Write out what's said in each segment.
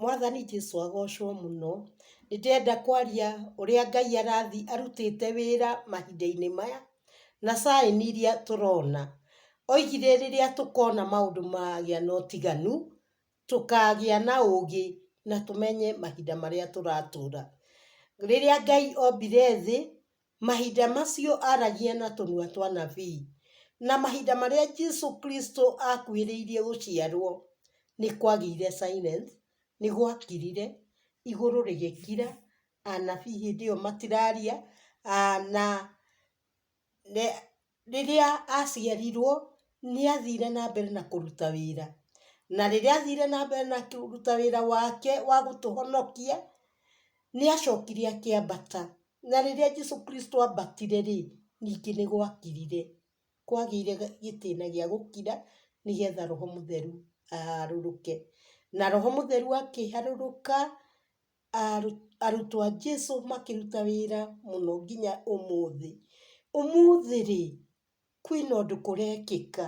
Mwathani Jesu agocwo mũno. Nĩ ndĩrenda kwaria ũrĩa Ngai arathiĩ arutĩte wĩra mahinda-inĩ maya, na sign iria tũrona. Oigire rĩrĩa tũkona maũndũ magĩa na ũtiganu, tũkagĩa na ũũgĩ na tũmenye mahinda marĩa tũratũũra. Rĩrĩa Ngai ombire thĩ, Mahinda macio aaragia na tũnua twa nabii. Na mahinda marĩa Jesu Kristo aakuhĩrĩirie gũciarũo, nĩ kwagĩire silence, nĩ gwakirire, igũrũ rĩgĩkira, anabii hĩndĩ ĩyo matiraria, na, Rĩrĩa aaciarirũo, nĩ aathire na mbere na kũruta wĩra. Na rĩrĩa aathire na mbere na kũruta wĩra wake wa gũtũhonokia, nĩ aacokire akĩambata. Na rĩrĩa Jesu Kristo aambatire-rĩ, ningĩ nĩ gwakirire. Kwagĩire gĩtĩna gĩa gũkira nĩ getha roho mũtheru aharũrũke. Na roho mũtheru akĩharũrũka... arutwo a Jesu makĩruta wĩra mũno nginya ũmũthĩ. Ũmũthĩ rĩ, kwĩna ũndũ kũrekĩka.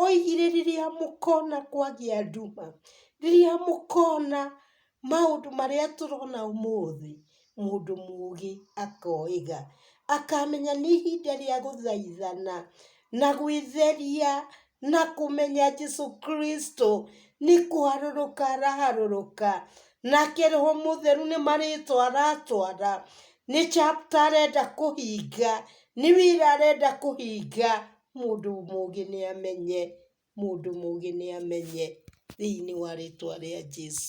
Oigire rĩrĩa mũkona kwagĩa nduma, rĩrĩa mũkona maũndũ marĩa tũrona ũmũthĩ, mũndũ mũũgĩ akoiga. Akamenya nĩ ihinda rĩa gũthaithana na gwĩtheria na kũmenya Jesu Kristo nĩ kũharũrũka araharũrũka, nake Roho Mũtheru nĩ marĩtwa aratwara, nĩ chapter arenda kũhinga, nĩ wĩra arenda kũhinga, mũndũ mũgĩ nĩ amenye, mũndũ mũgĩ nĩ amenye, thĩinĩ wa rĩtwa rĩa Jesu.